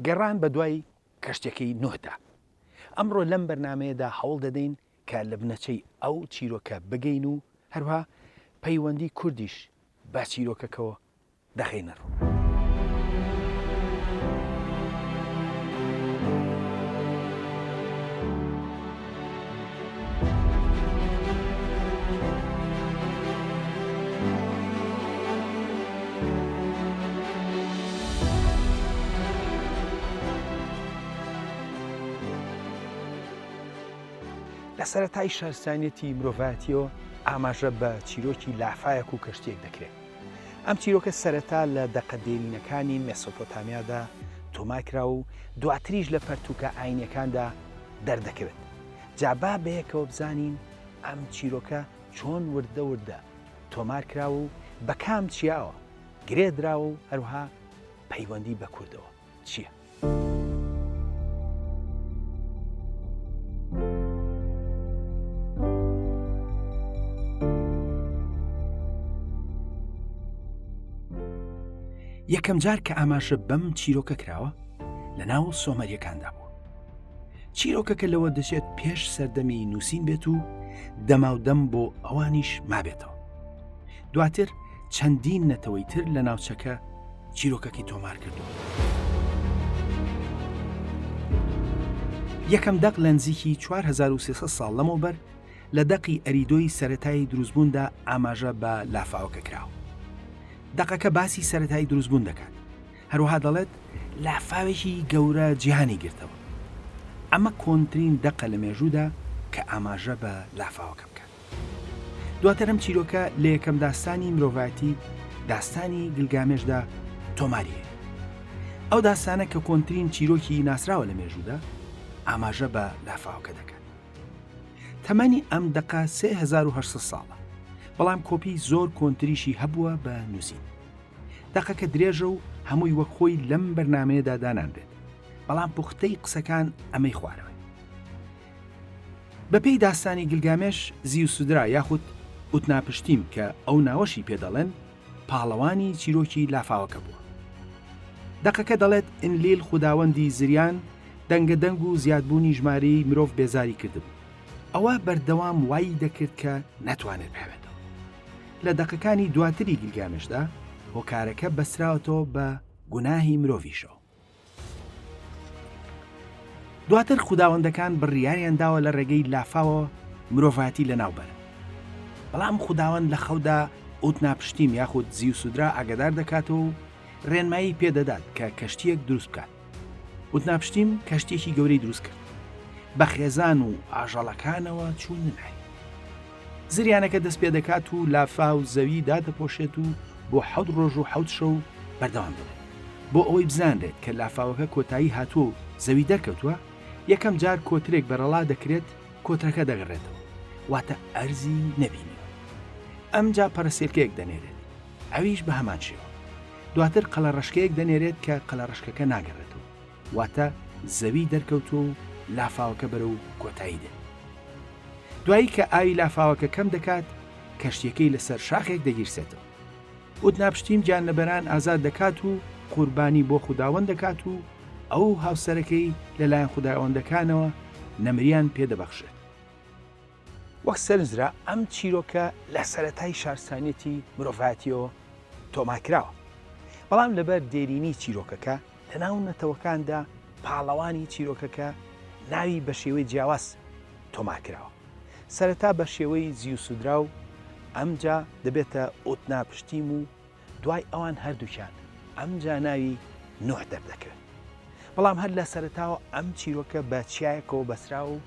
گەڕان بە دوای کەشتەکەی نوهدا ئەمڕۆ لەم بەرنمەیەدا هەوڵ دەدەین کە لە بنەچەی ئەو چیرۆکە بگەین و هەروها پەیوەندی کوردیش بە چیرۆکەکەەوە دەخەینە ڕوو. لە سەرەتای شارستانیەتی مرۆڤایەتیەوە ئاماژە بە چیرۆکی لافاەک و کەشتیەک دەکرێت ئەم چیرۆکە سەرەتا لە دەقە دێرینەکانی مێسۆپۆتامیادا تۆمار کرا و دواتریش لە پەرتووکە ئایینییەکاندا دەردەکەوێت. جا با بەیەکەوە بزانین ئەم چیرۆکە چۆن وردە وردە تۆمار کراوە و بە کام چیاوە گرێ دراوە و هەروەها پەیوەندی بە کوردەوە. چییە؟ یەکەم جار کە ئاماژە بەم چیرۆکە کراوە لە ناو سۆمەریەکاندا بوو چیرۆکەکە لەوە دەچێت پێش سەردەمی نووسین بێت و دەماودەم بۆ ئەوانیش مابێتەوە دواتر چەندین نەتەوەی تر لە ناوچەکە چیرۆکەکەی تۆمار کردووە. یەکەم دەق لە نزیکی چوار هەزار و سێ سەد ساڵ لەمەوبەر لە دەقی ئەریدۆی سەرەتایی دروستبووندا ئاماژە بە لافاوەکە کراوە. دەقەکە باسی سەرەتایی دروستبوون دەکات. هەروەها دەڵێت لافاوێکی گەورە جیهانی گرتەوە. ئەمە کۆنترین دەقە لە مێژوودا کە ئاماژە بە لافاوەکە بکات. دواتر ئەم چیرۆکە لە یەکەم داستانی مرۆڤایەتی داستانی گلگامێشدا تۆماری هەیە ئەو داستانە کە کۆنترین چیرۆکی ناسراوە لە مێژوودا ئاماژە بە لافاوکە دەکات تەمەنی ئەم دقە 1970 ساڵە بەڵام کۆپی زۆر کۆنتریشی هەبووە بە نووسین دەقەکە درێژە و هەمووی وەک خۆی لەم بەرنمەیەدا دانانرێت بەڵام پوختەی قسەکان ئەمەی خوارەوە بە پێی داستانی گلگامێش، زیوسدرا یاخود ئوتناپشتیم کە ئەو ناوەشی پێ دەڵێن، پاڵەوانی چیرۆکی لافاوەکە بووە. دەقەکە دەڵێت، ئنلیل خوداوەندی زریان، دەنگە دەنگ و زیادبوونی ژمارەی مرۆڤ بێزاری کردبوو. ئەوە بەردەوام وای دەکرد کە نەتوانێت بحەوێتەوە. لە دەقەکانی دواتری گلگامێشدا، هۆکارەکە بەستراوەتەوە بە گوناهی مرۆڤیشەوە. دواتر خوداوەندەکان بڕیاریان داوە لە ڕێگەی لافاوە مرۆڤایەتی لە ناوبەر بەڵام خوداوەند لە خەودا ئوت ناپشتیم یاخود زیوسودرا ئاگدار دەکاتەوە و ڕێنمایی پێدەدات کە کەشتیەک دروست بکات وت ناپشتیم کەشتێکی گەورەی دروست کرد بە خێزان و ئاژەڵەکانەوە چوونە لای زریانەکە دەست پێ دەکات و لافاو و زەوی دادەپۆشێت و بۆ حەوت ڕۆژ و حەوت شەو بەردەوام دەبێت بۆ ئەوەی بزانرێت کە لافاوەکە کۆتایی هاتووە و زەوی دەرکەوتووە یەکەم جار کۆترێک بەرەڵا دەکرێت کۆترەکە دەگەڕێتەوە واتە ئەرزی نەبینی ئەمجا پەرسێلکەیەک دەنێرێت ئەویش بە هەمان شێوە دواتر قەلە ڕشکەیەک دەنێرێت کە قەلە ڕشکەکە ناگەڕێتەوە واتە زەوی دەرکەوتووە و لافاوەکە بەرەو کۆتایی دێت. دوایی کە ئاوی لافاوەکە کەم دەکات، کەشتیەکەی لەسەر شاخێک دەگیرسێتەوە. ئوتناپشتیم گیانلەبەران ئازاد دەکات و قوربانی بۆ خوداوەند دەکات و ئەو و هاوسەرەکەی لەلایەن خوداوەندەکانەوە نەمریان پێدەبەخشرێت. وەک سەرنجرا ئەم چیرۆکە لە سەرەتای شارستانیەتی مرۆڤایەتیەوە تۆمارکراوە، بەڵام لەبەر دێرینی چیرۆکەکە لەناو نەتەوەکاندا پاڵەوانی چیرۆکەکە ناوی بەشێوەی جیاواز تۆمارکراوە، سەرەتا بەشێوەی زیوسودراو ئەمجا دەبێتە ئوتناپشتیم و، دوای ئەوان هەردووکیان ئەمجا ناوی نوح دەردەکەوێت بەڵام هەر لە سەرتاوە ئەم چیرۆکە بە چیایەکەوە بەسراوە و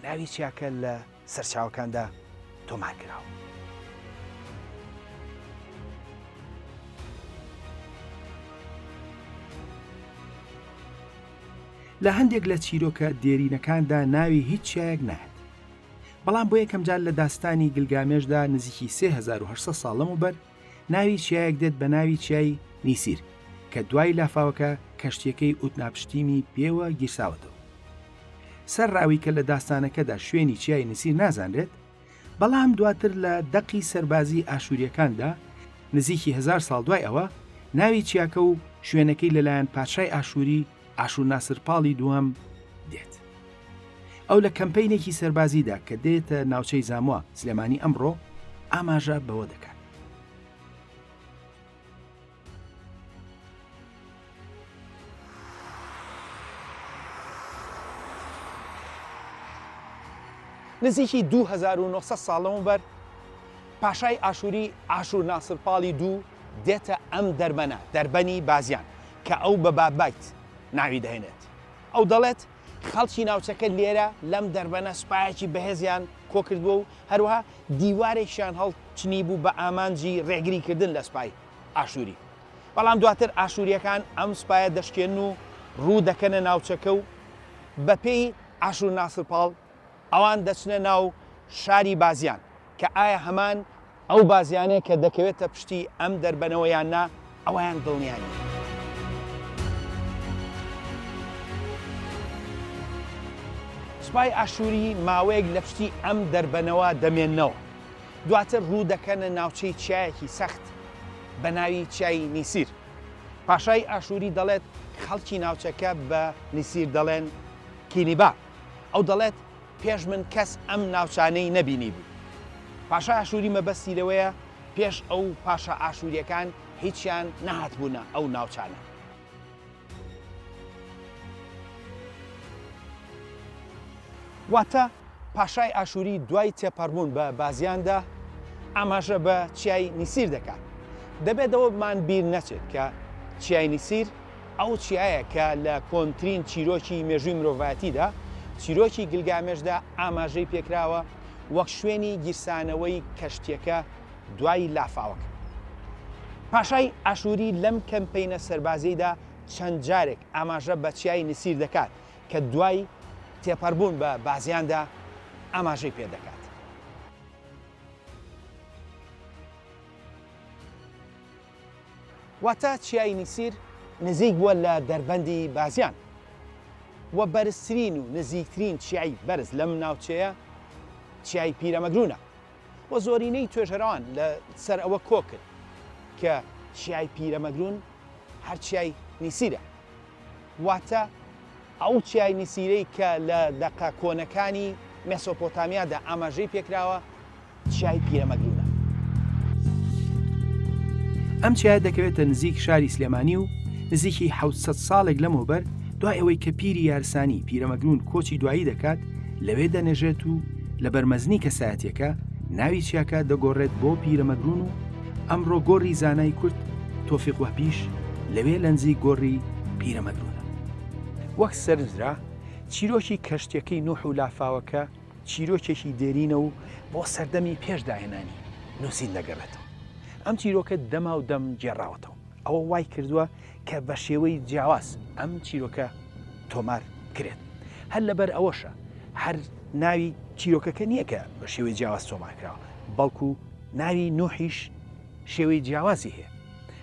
ناوی چیاکە لە سەرچاوەکاندا تۆمار کراوە. لە هەندێک لە چیرۆکە دێرینەکاندا ناوی هیچ چیایەک نایەت بەڵام بۆ یەکەمجار لە داستانی گلگامێشدا نزیکی 1970 ساڵ لەمەوبەر ناوی چیایەک دێت بە ناوی چیای نیسیر کە دوای لافاوەکە کەشتیەکەی ئوتناپشتیمی پێوە گیرساوەتەوە سەر ڕاوی کە لە داستانەکەدا شوێنی چیای نسیر نازانرێت بەڵام دواتر لە دەقی سەربازی ئاشووریەکاندا نزیکی هزار ساڵ دوای ئەوە ناوی چیاکە و شوێنەکەی لەلایەن پادشای ئاشووری ئاشوور ناسر پاڵی دووەم دێت. ئەو لە کەمپەینێکی سەربازیدا کە دێتە ناوچەی زاموا سلێمانی ئەمڕۆ ئاماژە بەوە دەکات. نزیکی 2900 ساڵ لەمەوبەر پاشای ئاشووری ئاشوور ناسر پاڵی دوو دێتە ئەم دەربەنە دەربەنی بازیان کە ئەو بە باببایت ناوی دەهێنێت. ئەو دەڵێت، خەڵکی ناوچەکە لێرە لەم دەربەنە سوپایەکی بەهێزیان کۆکردبووە و هەروەها دیوارێکیان هەڵچنیبوو بە ئامانجی ڕێگریکردن لە سوپای ئاشووری. بەڵام دواتر ئاشوورییەکان ئەم سوپایە دەشکێنن و ڕوو دەکەنە ناوچەکە و بەپێی ئاشوورناسرپاڵ ئەوان دەچنە ناو شاری بازیان کە ئایا هەمان ئەو بازیانەیە کە دەکەوێتە پشتی ئەم دەربەنەوە یان نا ئەوەیان دڵنیا نین. سوپای ئاشووری ماوەیەک لە پشتی ئەم دەربەنەوە دەمێننەوە دواتر ڕوو دەکەنە ناوچەی چیایەکی سەخت بە ناوی چیای نیسیر پاشای ئاشووری دەڵێت خەڵکی ناوچەکە بە نیسیر دەڵێن کینیبا. ئەو دەڵێت، پێش من کەس ئەم ناوچانەی نەبینیبوو. پاشای ئاشووری مەبەستی لەوەیە پێش ئەو پاشا ئاشوورییەکان هیچیان نەهاتبوونە ئەو ناوچانە. واتە پاشای ئاشووری دوای تێپەڕبوون بە بازیاندا ئاماژە بە چیای نیسیر دەکات. دەبێت ئەوەمان بیر نەچێت کە چیای نیسیر، ئەو چیایە کە لە کۆنترین چیرۆکی مێژووی مرۆڤایەتیدا، چیرۆکی گلگامێشدا ئاماژەی پێکراوە وەک شوێنی گیرسانەوەی کەشتیەکە دوای لافاوەک. پاشای ئاشووری لەم کەمپەینە سەربازیەیدا چەند جارێک ئاماژە بە چیای نسیر دەکات کە دوای تێپەربوون بە بازیاندا ئاماژەی پێدەکات. واتە چیای میسیر نزیک بووە لە دەربەندی بازیان و بەرزترین و نزیکترین چیای بەرز لەم ناوچەیە چیای پیرەمەگرونە و زۆرینەی توێژەرەوان لە سەر ئەوە کۆکن کە چیای پیرەمەگرون هەر چیای میسیرە واتە ئەو چیای میسیرەی کە لە دەقە کۆنەکانی مێسۆپۆتامیادا ئاماژەی پێکراوە چیای پیرەمەگرونە. ئەم چیایە دەکەوێتە نزیک شاری سلێمانی و نزیکی حەوت سەد ساڵێک لەمەوبەر دوای ئەوەی کە پیری یارسانی پیرەمەگرون کۆچی دوایی دەکات لەوێ دەنێژێت و لە بەرمەزنی کەسایەتەکە ناوی چیاکە دەگۆڕێت بۆ پیرەمەگرون و ئەمڕۆ گۆڕی زانای کورد تۆفیق وەپیش لەوێ لەنزیک گۆڕی پیرەمەگرونە وەک سەرنجرا چیرۆکی کەشتیەکەی نوح و لافاوەکە چیرۆکێکی دێرینە و بۆ سەردەمی پێش داهێنانی نووسین دەگەڕێتەوە. ئەم چیرۆکە دەماودەم گێڕاوەتەوە، ئەوە وای کردووە کە بە شێوەی جیاواز ئەم چیرۆکە تۆمار کرێت. هەر لەبەر ئەوەشە هەر ناوی چیرۆکەکە نییە کە بە شێوەی جیاواز تۆمار کراوە، بەڵکو ناوی نوحیش شێوەی جیاوازی هەیە.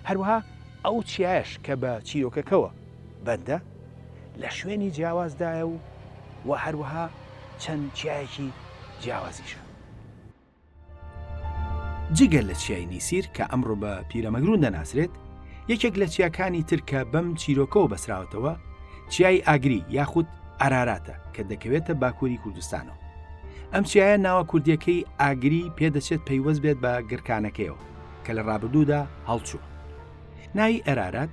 هەروەها ئەو چیایەش کە بە چیرۆکەکەوە بەندە لە شوێنی جیاوازدایە و وە هەروەها چەند چیایەکی جیاوازیشە. جگە لە چیای نیسیر کە ئەمڕۆ بە پیرەمەگرون دەناسرێت، یەکێک لە چیاکانی تر کە بەم چیرۆکەوە بەسراوەتەوە چیای ئاگری یاخود ئاراراتە کە دەکەوێتە باکوری کوردستانەوە. ئەم چیایە ناوە کوردیەکەی ئاگری پێدەچێت پەیوەست بێت بە گڕکانەکەیەوە کە لە ڕابردوودا هەڵچوون. ناوی ئەرارات،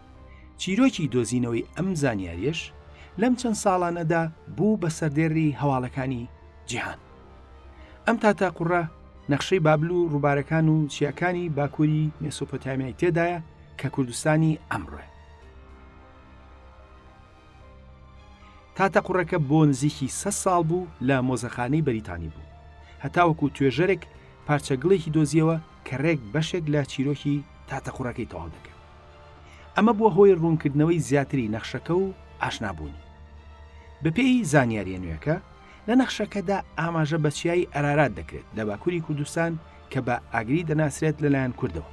چیرۆکی دۆزینەوەی ئەم زانیاریش لەم چەند ساڵانەدا بوو بە سەردێڕی هەواڵەکانی جیهان ئەم تا تاقڕە نەخشەی بابل و ڕووبارەکان و چیاکانی باکووری مێسۆپۆتامیای تێدایە کە کوردستانی ئەمڕۆ تاتە قوڕەکە بۆ نزیکی سە ساڵ بوو لە مۆزەخانەی بەریتانی بوو هەتاوەکو توێژەرێک پارچەگڵێکی دۆزیەوە کە ڕێک بەشێک لە چیرۆکی تاتە قوڕەکەی تەواو دەکەن ئەمە بووە هۆی ڕوونکردنەوەی زیاتری نەخشەکە و ئاشنابوونی. بەپێی زانیارییە نوێکە، لە نەخشەکەدا ئاماژە بە چیای ئەرارات دەکرێت لە باکووری کوردستان کە بە ئاگری دەناسرێت لەلایەن کوردەوە.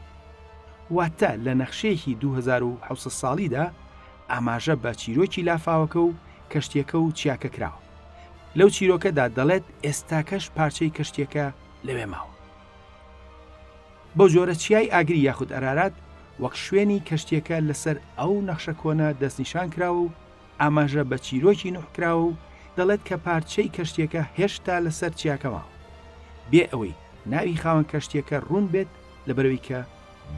واتە لە نەخشەیەکی دوو هەزار و حەوت سەد ساڵیدا ئاماژە بە چیرۆکی لافاوەکە و کەشتیەکە و چیاکە کراوە. لەو چیرۆکەدا دەڵێت ئێستاکەش پارچەی کەشتیەکە لەوێ ماوە. بەو جۆرە چیای ئاگری یاخود ئەرارات وەک شوێنی کەشتیەکە لەسەر ئەو نەخشە کۆنە دەستنیشان کراوە و ئاماژە بە چیرۆکی نوح کراوە و دەڵێت کە پارچەی کەشتیەکە هێشتا لەسەر چیاکە ماوە بێ ئەوەی ناوی خاوەن کەشتیەکە ڕوون بێت لە بەرەوەی کە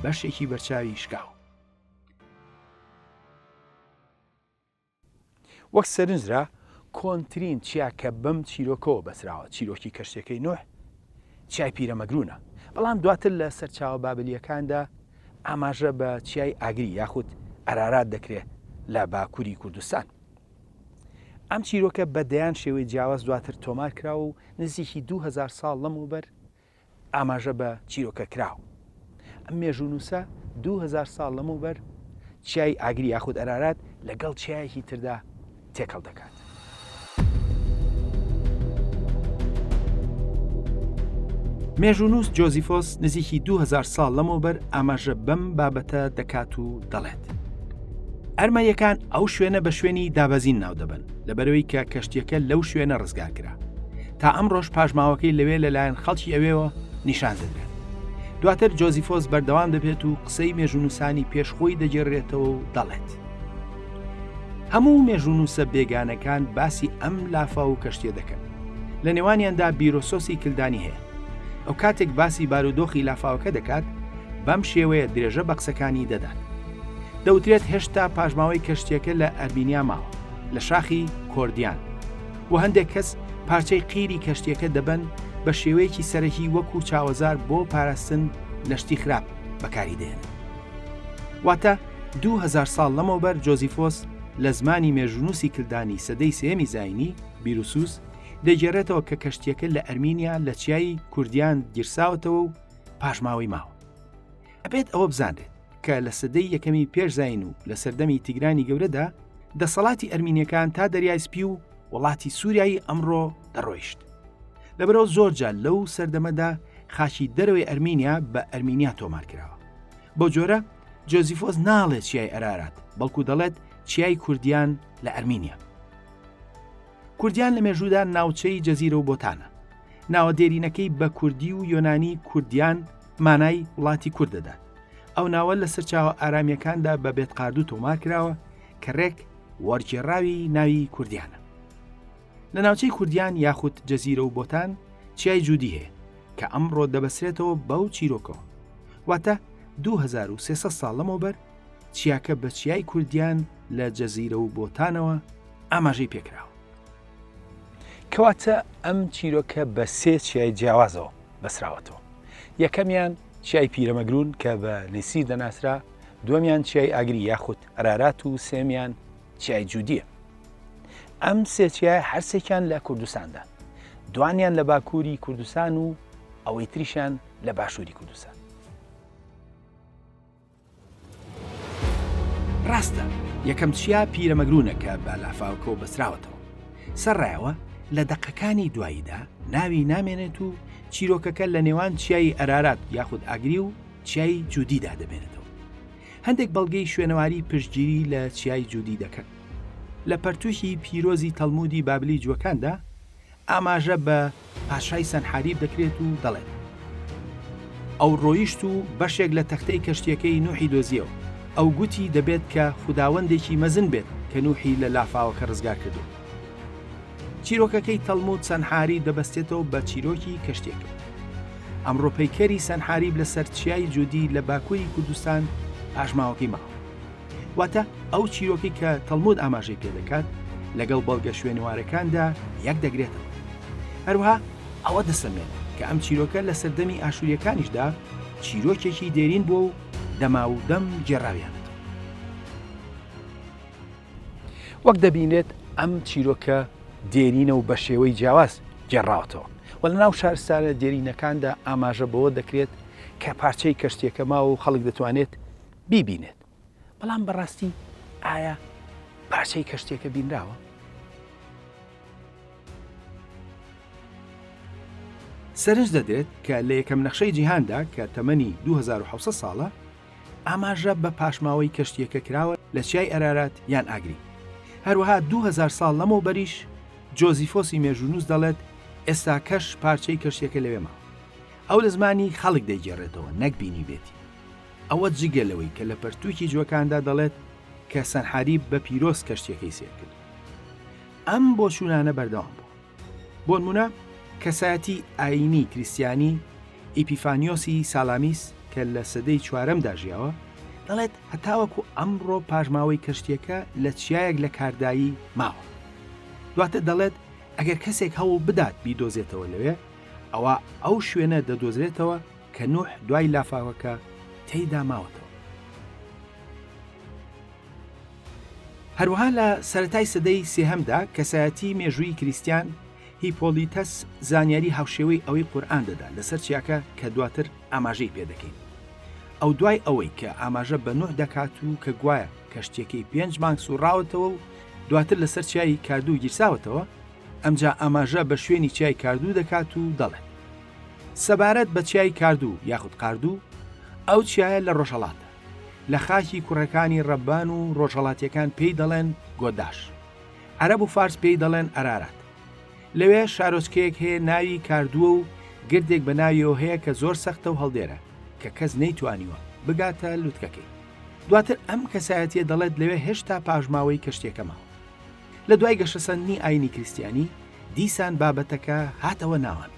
بەشێکی بەرچاوی شکاوە. وەک سەرنج درا، کۆنترین چیا کە بەم چیرۆکەوە بەستراوە، چیرۆکی کەشتیەکەی نوح، چیای پیرەمەگرونە. بەڵام دواتر لە سەرچاوە بابلیەکاندا ئاماژە بە چیای ئاگری یاخود ئەرارات دەکرێ لە باکوری کوردستان. ئەم چیرۆکە بە دەیان شێوەی جیاواز دواتر تۆمار کراوە و نزیکی دوو هەزار ساڵ لەمەوبەر ئاماژە بە چیرۆکە کراو، ئەم مێژوونووسە دوو هەزار ساڵ لەمەوبەر چیای ئاگری یاخود ئەرارات لەگەڵ چیایەکی تردا تێکەڵ دەکات. مێژوونووس جۆزیفۆس نزیکی دوو هەزار ساڵ لەمەوبەر ئاماژە بەم بابەتە دەکات و دەڵێت. ئەرمەنیەکان ئەو شوێنە بە شوێنی دابەزین ناو دەبەن لەبەرەوەی کە کەشتیەکە لەو شوێنە ڕزگار کرا تا ئەمڕۆش پاشماوەکەی لەوێ لەلایەن خەڵکی ئەوێەوە نیشان دەدرێت دواتر جۆزیفۆس بەردەوام دەبێت و قسەی مێژونووسانی پێشخۆی دەگێڕێتەوە و دەڵێت هەموو مێژونووسە بێگانەکان باسی ئەم لافا و کەشتێ دەکەن لە نێوانیاندا بیرۆسۆسی کلدانی هەیە ئەو کاتێک باسی بارودۆخی لافاوەکە دەکات بەم شێوەیە درێژە بە قسەکانی دەدات دەوترێت هێشتا پاشماوەی کەشتیەکە لە ئەربینیا ماوە لە شاخی کۆردیان و هەندێک کەس پارچەی قیری کەشتیەکە دەبەن بە شێوەیەکی سەرەکی وەکو چاوەزار بۆ پاراستن لە شتی خراپ بەکاری دێنن واتە دو هزار ساڵ لەمەوبەر جۆزیفۆس لە زمانی مێژونوسی کلدانی سەدەی سێمی زینی بیروسوس دەگێرێتەوە کە کەشتیەکە لە ئەرمینیا لە چیای کوردیان گیرساوەتەوە و پاشماوەی ماوە ئەبێت ئەوە بزانرێت کە لە سەدەی یەکەمی پێش زین و لە سەردەمی تیگرانی گەورەدا دەسەڵاتی ئەرمینیەکان تا دەریای سپی و وڵاتی سووریایی ئەمڕۆ دەڕۆیشت لەبەرەوە زۆرجا لەو سەردەمەدا خاچی دەرەوەی ئەرمینیا بە ئەرمینیا تۆمار کراوە بۆ جۆرە جۆزیفۆس ناڵێت چیای ئەرارات بەڵکو دەڵێت چیای کوردیان لە ئەرمینیا کوردیان لە مێژوودا ناوچەی جەزیرە و بۆتانە ناوە دێرینەکەی بە کوردی و یۆنانی کوردیان مانای وڵاتی کورد دەدات ئەو ناوە لە سەرچاوە ئارامیەکاندا بە بێت قاردوو تۆمار کراوە کە ڕێک وەرگێڕاوی ناوی کوردیانە لە ناوچەی کوردیان یاخود جەزیرە و بۆتان چیای جوودی هەیە کە ئەمڕۆ دەبەسرێتەوە بەو چیرۆکەوە واتە 2300 ساڵ لەمەوبەر چیاکە بە چیای کوردیان لە جەزیرە و بۆتانەوە ئاماژەی پێکراوە. کەواتە ئەم چیرۆکە بە سێ چیای جیاوازەوە بەسراوەتەوە یەکەمیان چیای پیرەمەگرون کە بە نسیر دەناسرا دومیان چیای ئاگری یاخود ئەرارات و سێمیان چیای جودیە ئەم سێچیای هەرسێکیان لە کوردستاندا دوانیان لە باکووری کوردستان و ئەوەی تریشان لە باشووری کوردستان ڕاستە یەکەم چیا پیرەمەگرونە کە بە لافاوکەوە بەسراوەتەوە سەرڕایەوە لە دەقەکانی دواییدا ناوی نامێنێت و چیرۆکەکە لە نێوان چیایی ئەرارات یاخود ئاگری و چیایی جودیدا دەمێنێتەوە هەندێک بەڵگەی شوێنەواری پشتگیری لە چیای جودی دەکەن لە پەرتوشی پیرۆزی تەلمودی بابلی جوەکاندا ئاماژە بە پاشای سەنحاریب دەکرێت و دەڵێت، ئەو ڕۆیشت و بەشێک لە تەختەی کەشتییەکەی نوحی دۆزییەوە، ئەو گوتی دەبێت کە خوداوەندێکی مەزن بێت کە نوحی لە لافاوەکە ڕزگار کردووە. چیرۆکەکەی تەڵمود سەنحاریب دەبەستێتەوە بە چیرۆکی کەشتییەکەی. ئەمڕۆ پەیکەری سەنحاریب لەسەر چیای جودی لە باکووری کوردستان پاشماوەکەی ماوە. واتە ئەو چیرۆکی کە تەڵمود ئاماژەی پێدەکات لەگەڵ بەڵگە شوێنوارەکاندا یەک دەگرێتەوە هەروها ئەوە دەسەلمێت کە ئەم چیرۆکە لە سەردەمی ئاشووریەکانیشدا چیرۆکێکی دێرین بووە و دەما و دەم گێڕاویان وەک دەبینێت ئەم چیرۆکە دێرینە و بە شێوەی جیاواز گێڕاوەتەوە و لە ناو شارستانە دێرینەکاندا ئاماژە بەوە دەکرێت کە پارچەی کەشتێکە ماوە و خەڵک دەتوانێت بیبینێت بەڵام بەڕاستی ئایا پارچەی کەشتێکە بینراوە؟ سەرنج دەدرێت کە لە یەکەم نەخشەی جیهاندا کە تەمەنی 2600 ساڵە ئاماژە بە پاشماوەی کەشتیەکە کراوە لە چیای ئەرارات یان ئاگری هەروەها 2000 ساڵ لەمەو بەریش جۆزیفۆسی مێژونووس دەڵێت ئێستا کەش پارچەی کەشتیەکە لەوێ ماوە ئەو لە زمانی خەڵک دەیگێڕێتەوە نەک بینی بێتی ئەوە جگە لەوەی کە لە پەرتووکی جوەکاندا دەڵێت کە سەنحاریب بە پیرۆز کەشتیەکەی سێر کرد ئەم بۆ چوونانە بەردەوام بوو بۆن منە کەسایەتی ئاینی کریسیانی ئیپیفانیۆسی سالامیس کە لە سەدەی چوارەمدا ژیاوە دەڵێت هەتاوەکو ئەمڕۆ پاژماوەی کەشتیەکە لە چیایەک لە کاردایی ماوە دواتە دەڵێت ئەگەر کەسێک هەوڵ بدات بیدۆزێتەوە لەوێ ئەوە ئەو شوێنە دەدۆزرێتەوە کە نوح دوای لافاوەکە تێیدا ماوەتەوە. هەروەها لە سەرەتای سەدەی سێهەمدا کەسایەتی مێژووی کریستیان هیپۆلیتەس زانیاری هاوشێوەی ئەوەی قورئان دەدا لەسەر چیاکە کە دواتر ئاماژەی پێدەکەین ئەو دوای ئەوەی کە ئاماژە بە نوح دەکات و کە گوایە کەشتیەکەی پێنج مانگ سوڕاوەتەوە و دواتر لەسەر چیایی کاردوو گیرساوەتەوە ئەمجا ئاماژە بە شوێنی چیای کاردوو دەکات و دەڵێت، سەبارەت بە چیای کاردوو یاخود قاردوو، ئەو چیایە لە ڕۆژهەڵاتە، لە خاکی کوڕەکانی ڕەبان و ڕۆژهەڵاتییەکان پێی دەڵێن گۆداش. عەرەب و فارس پێی دەڵێن ئەرارات. لەوێ شارۆچکەیەک هەیە ناوی کاردووە و گردێک بە ناویەوە هەیە کە زۆر سەختە و هەڵدێرە کە کەس نەیتوانیوە بگاتە لوتکەکەی. دواتر ئەم کەسایەتییە دەڵێت لەوێ هێشتا پاشماوەی کەشتییەکە ماوە. لە دوای گەشەسەندنی ئاینی کریستیانی دیسان بابەتەکە هاتەوە ناوان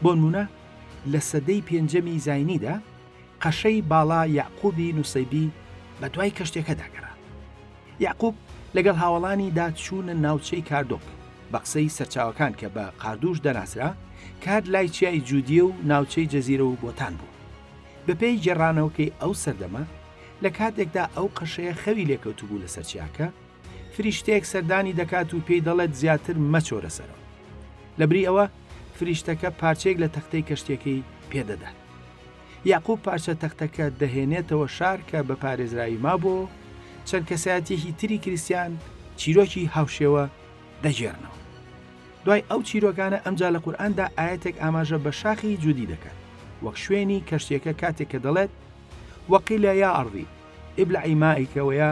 بۆنمونە لە سەدەی پێنجەمی زینیدا قەشەی باڵا یعقوبی نووسیبی بە دوای کەشتێکەداگەرا یعقوب لەگەڵ هاوڵانی داچوونە ناوچەی کاردۆک بە قسەی سەرچاوەکان کە بە قاردوش دەناسرا کار لای چیای جودیە و ناوچەی جەزیرە و بۆتان بوو بەپێی گێڕانەوەکەی ئەو سەردەمە لە کاتێکدا ئەو قەشەیە خەوی لێکەوتبوو لە سەرچیاکە فریشتەیەک سەردانی دەکات و پێی دەڵێت زیاتر مەچۆرە سەرەوە لەبری ئەوە فریشتەکە پارچەیەک لە تەختەی کەشتەکەی پێدەدات یاقوب پارچە تەختەکە دەهێنێتەوە شار کە بە پارێزراوی مابوو چەند کەسایەتێکی تری کریسیان چیرۆکی هاوشێوە دەگێڕنەوە دوای ئەو چیرۆکانە ئەمجا لە قورآاندا ئاەتێک ئاماژە بە شاخی جودی دەکات وەک شوێنی کەشتێکە کاتێک کە دەڵێت وەقیلە یا ئەڕی ئبلعی مایکەوەیە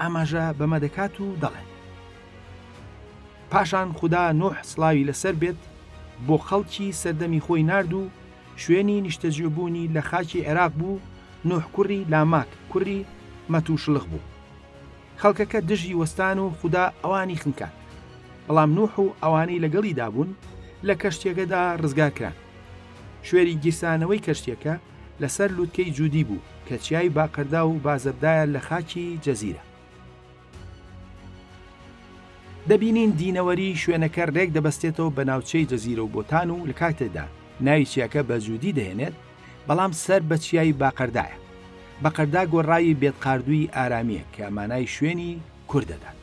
ئاماژە بەمە دەکات و دەڵێت پاشان خوددا نوح سلاوی لەسەر بێت بۆ خەڵکی سەردەمی خۆی نرد و شوێنی نیشتەجێبوونی لە خاکی عێراق بوو نوح کوڕی لاماک کوڕی مەتوشلخ بوو خەڵکەکە دژی وەستان و خوددا ئەوانی خنکات بەڵام نوح و ئەوانەی لەگەڵی دابوون لە کەشتێکەدا ڕزگارکران شوێری گیرسانەوەی کەشتێکە لەسەر لووتکەی جودی بوو کە چیای باقەردا و بازەبدایە لە خاکی جزیرە. دەبینین دینەوەری شوێنەکە رێک دەبەستێتەوە بە ناوچەی جزیرە و بۆتان و لە کاتێدا ناوی چیاکە بە جودی دەهێنێت بەڵام سەر بە چیای باقەردایە. بەقەردا گۆڕاوی بێتقاردووی ئارامییە کە مانای شوێنی کورد دەدات.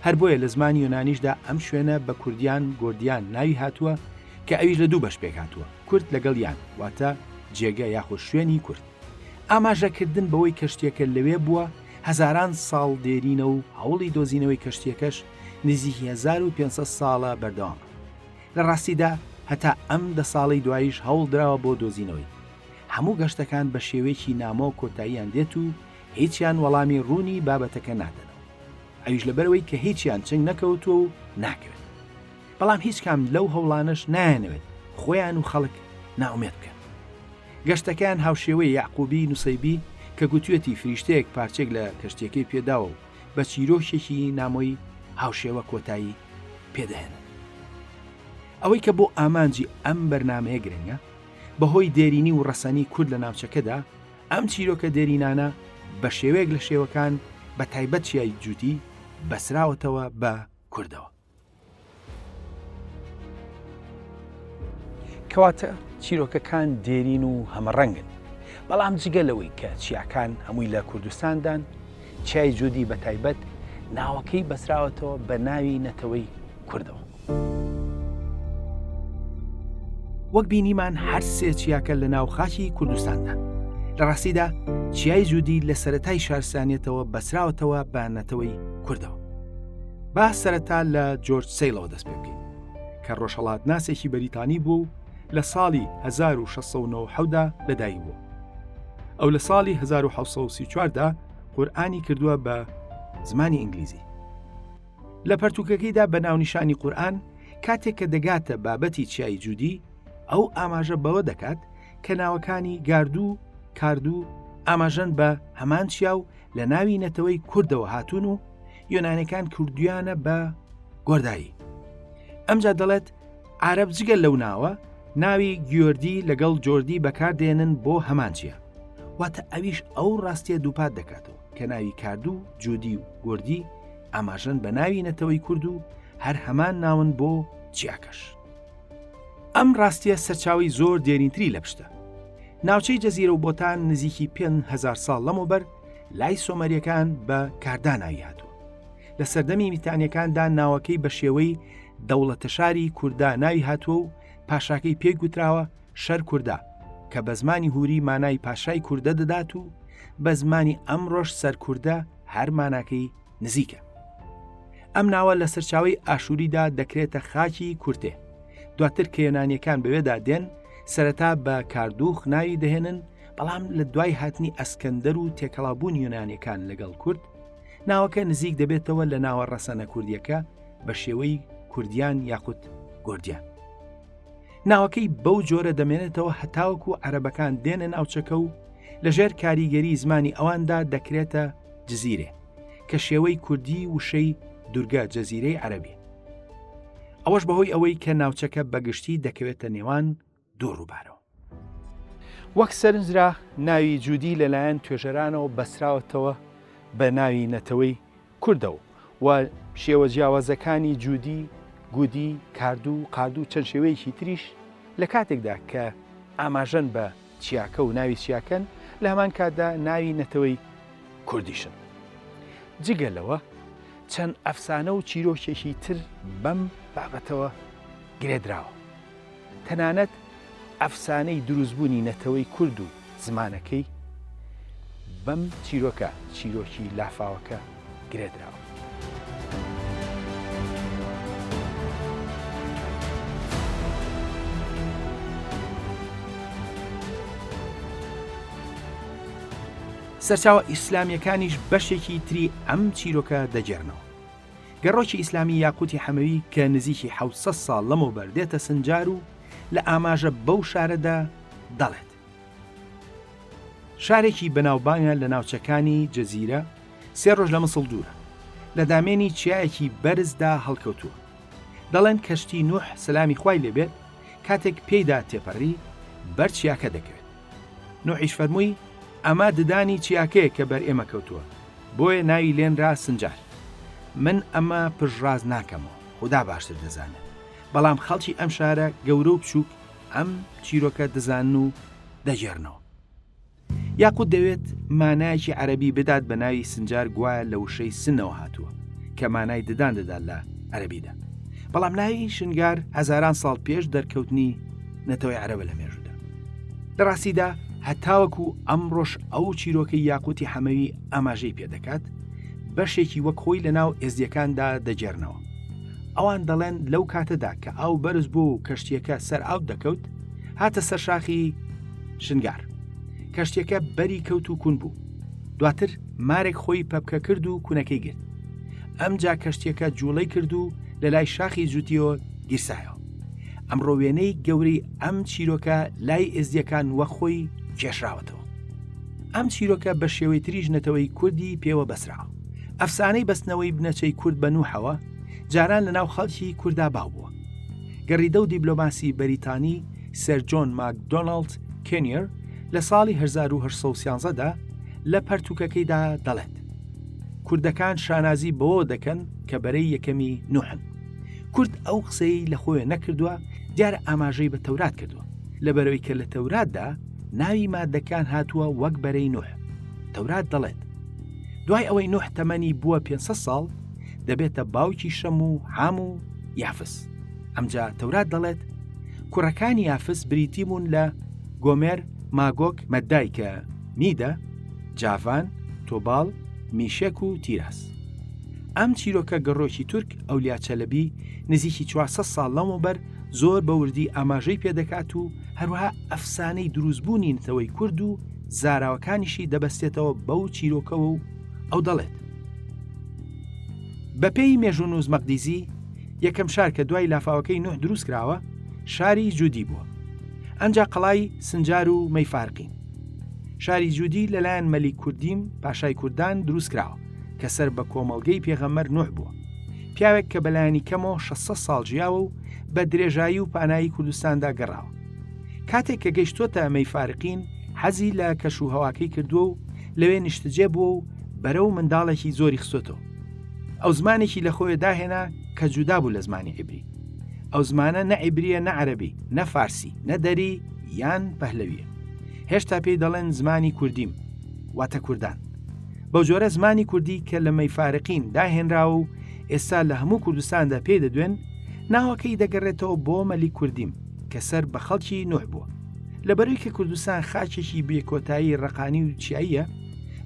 هەر بۆیە لە زمانی یۆنانیشدا ئەم شوێنە بە کوردیان، گۆردیان، ناوی هاتووە کە ئەویش لە دوو بەش پێک هاتووە، کورد لەگەڵ یان، واتە جێگە یاخۆ شوێنی کورد. ئاماژە کردن بەوەی کەشتیەکە لەوێ بووە هەزاران ساڵ دێرینە و هەوڵی دۆزینەوەی کەشتیەکەش نزیکی هەزار و پێنج سەد ساڵە بەردەوامە. لە ڕاستیدا هەتا ئەم دە ساڵەی دواییش هەوڵ دراوە بۆ دۆزینەوەی. هەموو گەشتەکان بە شێوەیەکی نامۆ کۆتاییان دێت و هیچیان وەڵامی ڕوونی بابەتەکە نادەنەوە، ئەویش لەبەرئەوەی کە هیچیان چنگ نەکەوتووە و ناکەوێت. بەڵام هیچ کام لەو هەوڵانەش نایانەوێت خۆیان و خەڵک نائومێد بکەن. گەشتەکەیان هاوشێوەی یەعقوبی نوسەیبی کە گوتویەتی فریشتەیەک پارچەیەک لە کەشتیەکەی پێداوە و بە چیرۆکێکی نامۆی هاوشێوە کۆتایی پێدەهێنن. ئەوەی کە بۆ ئامانجی ئەم بەرنامەیە گرنگە، بەهۆی دێرینی و ڕەسەنی کورد لە ناوچەکەدا، ئەم چیرۆکە دێرینانە بە شێوەیەک لە شێوەکان بە تایبەت چیای جووتی بەسراوەتەوە بە کوردەوە. کەواتە چیرۆکەکان دێرین و هەمەڕەنگن بەڵام جگە لەوەی کە چیاکان هەمووی لە کوردستاندان چیای جودی بە تایبەت ناوەکەی بەستراوەتەوە بە ناوی نەتەوەی کوردەوە. وەک بینیمان هەر سێ چیاکە لە ناو خاکی کوردستاندان لە ڕاستیدا چیای جودی لە سەتای شارسانیەتەوە بەسراوەتەوە بە نەتەوەی کوردەوە با سەرەتا لە جۆرج سیلەوە دەست پێ بکەین کە ڕۆژهڵات ناسێکی بەریتانی بوو و لە ساڵی هەزار و شەش سەد و نەوەد و حەوت دا لە دایک بووە. ئەو لە ساڵی هەزار و حەوت سەد و سی و چوار دا قورئانی کردووە بە زمانی ئینگلیزی. لە پەرتووکەکەیدا بە ناونیشانی قورئان کاتێک کە دەگاتە بابەتی چیای جودی، ئەو ئاماژە بەوە دەکات کە ناوەکانی گاردو و کاردو ئاماژەن بە هەمان چیا و لە ناوی نەتەوەی کوردەوە هاتوون و یۆنانیەکان کردوویانە بە گۆردایی. ئەمجا دەڵێت، عارەب جگە لەو ناوە ناوی گیۆردی لەگەڵ جۆردی بەکاردێنن بۆ هەمان چیە واتە ئەویش ئەو ڕاستیە دووپات دەکاتەوە کە ناوی کاردوو جودی و گردی ئاماژەن بە ناوی نەتەوەی کورد و هەر هەمان ناون بۆ چیاکەش ئەم ڕاستیە سەرچاوی زۆر دێرینتری لە پشتە ناوچەی جەزیرە و بۆتان نزیکی 5هزار ساڵ لەمەوبەر لای سۆمەریەکان بە کارداناوی هاتووە لە سەردەمی میتانیەکاندا ناوەکەی بە شێوەی دەوڵەتەشاری کوردا ناوی هاتووە و پاشاکەی پێی گوتراوە شەر کووردا کە بە زمانی هوری مانای پاشای کووردە دەدات و بە زمانی ئەم ڕۆژ سەرکووردە هەرماناکەی نزیکە. ئەم ناوە لە سەرچاوی ئاشووریدا دەکرێتە خاکی کورتێ. دواتر کە یۆنانیەکان بەوێدا دێن سەرەتا بە کاردوخ ناوی دەهێنن بەڵام لە دوای هاتنی ئەسکەندەر و تێکەڵابوون یۆنانیەکان لەگەڵ کورد ناوەکە نزیک دەبێتەوە لە ناوە ڕەسەنە کوردیەکە بە شێوەی کوردیان یاخود گۆردیان ناوەکەی بەو جۆرە دەمێنێتەوە هەتاوەکو و عەرەبەکان دێنە ناوچەکە و لەژێر کاریگەری زمانی ئەواندا دەکرێتە جززیرێ کە شێوەی کوردی وشەی دورگە جەزیرەی عەربی ئەوەش بەهۆی ئەوەی کە ناوچەکە بەگشتی دەکەوێتە نێوان دوو ڕووبارەوە. وەک سەرنجرا ناوی جودی لەلایەن توێژەرانەوە بەستراوەتەوە بە ناوی نەتەوەی کوردەوە و شێوە جیاوازەکانی جودی، گودی، کاردوو، قاردوو چەند شێوەیەکی تریش لە کاتێکدا کە ئاماژەن بە چیاکە و ناوی چیاکەن لە هەمان کاتدا ناوی نەتەوەی کوردیشن. جگە لەوە چەند ئەفسانە و چیرۆکێکی تر بەم بابەتەوە گرێدراوە. تەنانەت ئەفسانەی دروستبوونی نەتەوەی کورد و زمانەکەی بەم چیرۆکە، چیرۆکی لافاوەکە، گرێدراوە. سەرچاوە ئیسلامییەکانیش بەشێکی تری ئەم چیرۆکە دەگێڕنەوە. گەڕۆکی ئیسلامی یاقوتی حەمەوی کە نزیکی حەوت سەد ساڵ لەمەوبەر دێتە سنجار و لە ئاماژە بەو شارەدا دەڵێت، شارێکی بەناوبانگە لە ناوچەکانی جزیرە، سێ ڕۆژ لە مسڵ دوورە، لە دامێنی چیایەکی بەرزدا هەڵکەوتووە. دەڵێن کەشتی نوح سەلامی خوای لێبێت کاتێک پێیدا تێپەڕی، بەر چیاکە دەکەوێت. نوحیش فەرمووی، ئەمە ددانی چیاکەیە کە بەر ئێمە کەوتووە، بۆیە ناوی لێنرا سنجار. من ئەمە پشتڕاست ناکەم و خودا باشتر دەزانێت، بەڵام خەڵکی ئەم شارە گەورە و بچووک ئەم چیرۆکە دەزانن و دەگێڕنەوە. یاقووت دەوێت مانایەکی عەرەبی بدات بە ناوی سنجار گوایە لە وشەی سنەوە هاتووە کە مانای ددان دەدات لە عەرەبیدا. بەڵام ناوی شنگار هەزاران ساڵ پێش دەرکەوتنی نەتەوەی عەرەبە لە مێژوودا. لەڕاستیدا هەتاوەکو ئەمڕۆش ئەو چیرۆکەی یاقوتی حەمەوی ئاماژەی پێدەکات بەشێکی وەک خۆی لە ناو ئێزدیەکاندا دەگێرنەوە ئەوان دەڵێن لەو کاتەدا کە ئاو بەرز بوو و کەشتیەکە سەر ئاو دەکەوت هاتە سەر شاخی شنگار کەشتەکە بەری کەوت و کون بوو دواتر مارێک خۆی پەپکە کرد و کونەکەی گرت ئەمجا کەشتیەکە جوڵەی کرد و لە لای شاخی جوتیۆ گیرسایەوە ئەمڕۆ وێنەی گەورەی ئەم چیرۆکە لای ئێزدیەکان وە خۆی کێشراوەتەوە ئەم چیرۆکە بە شێوەی تریژ نەتەوەی کوردی پێوە بەسرا ئەفسانەی بەستنەوەی بنەچەی کورد بە نوحەوە جاران لەناو خەڵکی کووردا باو بووە گەڕیدە و دیبلۆماسی بەریتانی سەرجۆن ماکدۆناالد کێنیر لە ساڵی 1970دا لە پەرتوکەکەیدا دەڵێت کوردەکان شانازی بەوە دەکەن کە بەرەی یەکەمی نوحن کورد ئەو قسەی لە خۆیە نەکردووە دیارە ئاماژەی بە تەورات کردووە لە بەرەوەی کە لە تەوراتدا ناوی مادەکان هاتووە وەک بەرەی نوح تەورات دەڵێت دوای ئەوەی نوح تەمەنی بووە 500 ساڵ دەبێتە باوکی شەم و حام و یافس ئەمجا تەورات دەڵێت کوڕەکانی یافس بریتی بوون لە گۆمێر ماگۆک مەدای کە میدە جاڤان تۆباڵ میشک و تیراس ئەم چیرۆکە گەڕۆکی تورک ئەولیا چەلەبی نزیکی چوار سەد ساڵ لەمەوبەر زۆر بە وردی ئاماژەی پێدەکات و هەروەها ئەفسانەی دروستبوونی نەتەوەی کورد و زاراوەکانیشی دەبەستێتەوە بەو چیرۆکەوە و ئەو دەڵێت بەپێی مێژوونووس مەقدیزی یەکەم شار کە دوای لافاوەکەی نوح دروست کراوە شاری جودی بووە ئەنجا قەڵای سنجار و مەیفارقین شاری جودی لەلایەن مەلی کوردیم پاشای کوردان دروست کراوە کە سەر بە کۆمەڵگەی پێغەمەر نوح بووە پیاوێک کە بەلایانی کەمەوە 600 ساڵ جیاوە و بە درێژایی و پانایی کوردستاندا گەڕاوە کاتێک کە گەیشتۆتە ئەمەی فارقین حەزی لە کەش و هەواکەی کردووە و لەوێ نیشتجێ بووە و بەرە و منداڵێکی زۆری خستۆتەوە ئەو زمانێکی لە خۆی داهێنا کە جودا بوو لە زمانی عیبری ئەو زمانە نە عیبریە نە عەربی نە فارسی نە دەری یان پەهلەویە هێشتا پێی دەڵێن زمانی کوردیم واتە کوردان بەو جۆرە زمانی کوردی کە لە مەیفارقین داهێنراوە و ئێستا لە هەموو کوردستاندا پێی دەدوێن ناوەکەی دەگەڕێتەوە بۆ مەلی کوردیم کە سەر بە خەڵکی نوح بووە لەبەروی کە کوردستان خاچێکی بێکۆتایی ڕقانی و چیاییە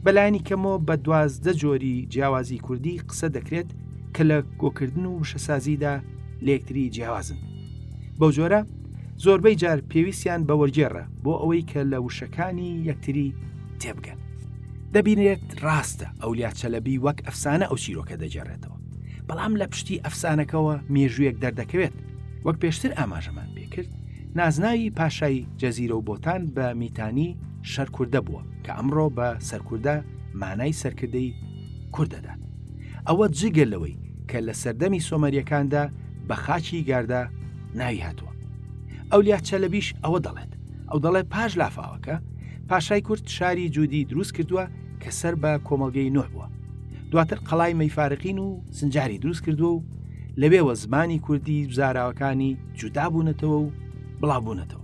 بەلایانی کەمەوە بە دوازدە جۆری جیاوازی کوردی قسە دەکرێت کە لە گۆکردن و وشەسازیدا لە یەکتری جیاوازن بەو جۆرە زۆربەی جار پێویستیان بە وەرگێڕە بۆ ئەوەی کە لە وشەکانی یەکتری تێبگەن. دەبینرێت ڕاستە ئەولیا چەلەبی وەک ئەفسانە ئەو چیرۆکە دەگێڕێتەوە بەڵام لە پشتی ئەفسانەکەەوە مێژوویەک دەردەکەوێت وەک پێشتر ئاماژەمان پێکرد نازناوی پاشای جەزیرە و بۆتان بە میتانی شەرکوردە بووە کە ئەمڕۆ بە سەرکوردە مانای سەرکردەی کوردەدات ئەوە جگە لەوەی کە لە سەردەمی سۆمەریەکاندا بە خاچی گاردا ناوی هاتووە ئەولیا چەلەبیش ئەوە دەڵێت ئەو دەڵێ پاش لافاوەکە پاشای کورد شاری جودی دروست کردووە کە سەر بە کۆمەلگەی نوح بووە دواتر قەڵای مەیفارقین و سنجاری دروست کردووە و لەوێوە زمانی کوردی زاراوەکانی جودا بوونەتەوە و بڵاوبوونەتەوە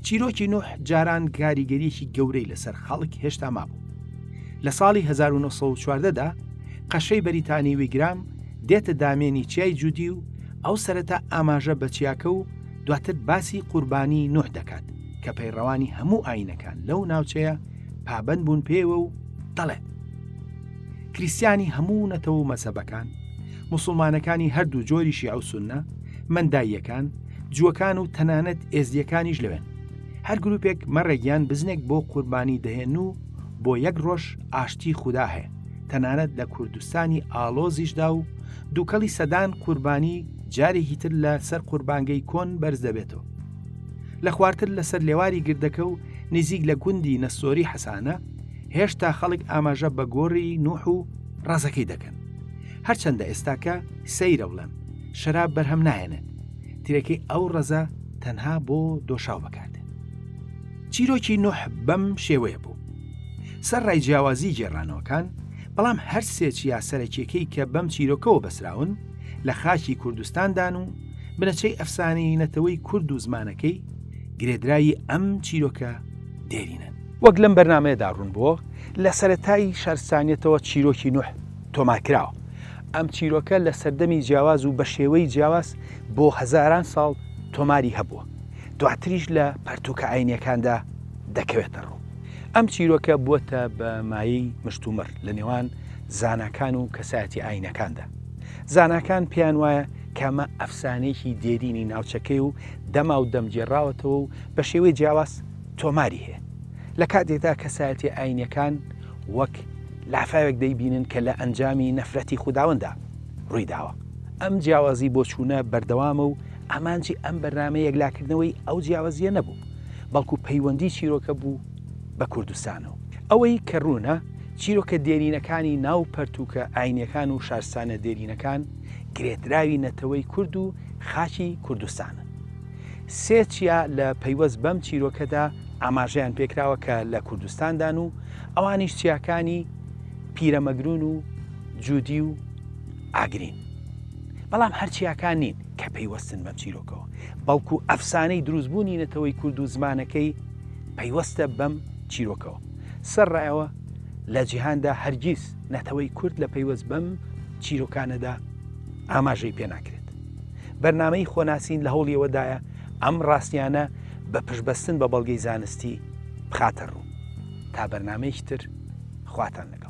چیرۆکی نوح جاران کاریگەریەکی گەورەی لەسەر خەڵک هێشتا مابوو لە ساڵی 1940دا قەشەی بەریتانی ویگرام دێتە دامێنی چیای جودی و ئەو سەرەتا ئاماژە بە چیاکە و دواتر باسی قوربانی نوح دەکات کە پەیڕەوانی هەموو ئاینەکان لەو ناوچەیە پابەند بوون پێوە و دەڵێت کریسیانی هەموو نەتەوە و مەسەبەکان مسلمانەکانی هەردوو جۆری شیع و سنە منداییەکان جووەکان و تەنانەت ئێزدیەکانیش لەوێن هەر گروپێک مەڕێگیان بزنێک بۆ قوربانی دەهێن و بۆ یەک ڕۆژ ئاشتی خودا هەیە تەنانەت لە کوردستانی ئالۆزیشدا و دووکەڵی سەدان قوربانی جارێکی تر لە سەر قوربانگەی کۆن بەرز دەبێتەوە لە خوارتر لەسەر لێواری گردەکە و نیزیک لە گوندی نەستۆری حەسانە، هێشتا خەڵک ئاماژە بە گۆری نوح و ڕەزەکەی دەکەن. هەرچەندە ئێستاکە سەیرە بڵێم، شەراب بەرهەم ناهێنێت، ترێکەی ئەو ڕەزە تەنها بۆ دۆشاو بەکاردێت. چیرۆکی نوح بەم شێوەیە بوو. سەر ڕای جیاوازی گێڕانەوەکان، بەڵام هەر سێ چیا سەرەکیەکەی کە بەم چیرۆکەوە بەستراون، لە خاکی کوردستاندان و بنەچەی ئەفسانەی نەتەوەی کورد و زمانەکەی گرێدراوی ئەم چیرۆکە دێرینە. وەک لەم بەرنامەیەدا ڕوون بووە لە سەرەتای شارستانیەتەوە چیرۆکی نوح تۆمار کراوە. ئەم چیرۆکە لە سەردەمی جیاواز و بە شێوەی جیاواز بۆ هەزاران ساڵ تۆماری هەبووە. دواتریش لە پەرتووکە ئاینیەکاندا دەکەوێتە ڕوو. ئەم چیرۆکە بووەتە بە مایەی مشتومڕ لە نێوان زاناکان و کەسایەتی ئاینەکاندا. زاناکان پێیان وایە کەمە ئەفسانەیەکی دێرینی ناوچەکەی و دەما و دەمگێڕاوەتەوە و بە شێوەی جیاواز تۆماری هەیە لە کاتێکدا کەسایەتی ئاینەکان وەک لافاوێک دەیبینن کە لە ئەنجامی نەفرەتی خودداوەندا ڕوویداوە ئەم جیاوازی بۆچوونە بەردەوامە و ئامانجی ئەم بەرنامە یەکلاکردنەوەی ئەو جیاوازیە نەبوو بەڵکو پەیوەندی چیرۆکە بوو بە کوردستانەوە ئەوەی کە ڕوونە چیرۆکە دێرینەکانی ناو پەرتووکە ئاینییەکان و شارستانە دێرینەکان گرێدراوی نەتەوەی کورد و خاکی کوردستانن. سێ چیا لە پەیوەست بەم چیرۆکەدا ئاماژەیان پێکراوە کە لە کوردستاندان و ئەوانیش چیاکانی پیرەمەگرون و جودی و ئاگرین. بەڵام هەر چیاکان نین کە پەیوەستن بەم چیرۆکەوە، بەڵکو ئەفسانەی دروستبوونی نەتەوەی کورد و زمانەکەی پەیوەستە بەم چیرۆکەوە. سەرڕای ئەوە لە جیهاندا هەرگیز نەتەوەی کورد لە پەیوەست بەم چیرۆکانەدا ئاماژەی پێ ناکرێت. بەرنامەی خۆناسین لە هەوڵی ئەوەدایە ئەم ڕاستیانە بە پشتبەستن بە بەڵگەی زانستی بخاتە ڕوو. تا بەرنامەیەکی تر خواتان لەگەڵ.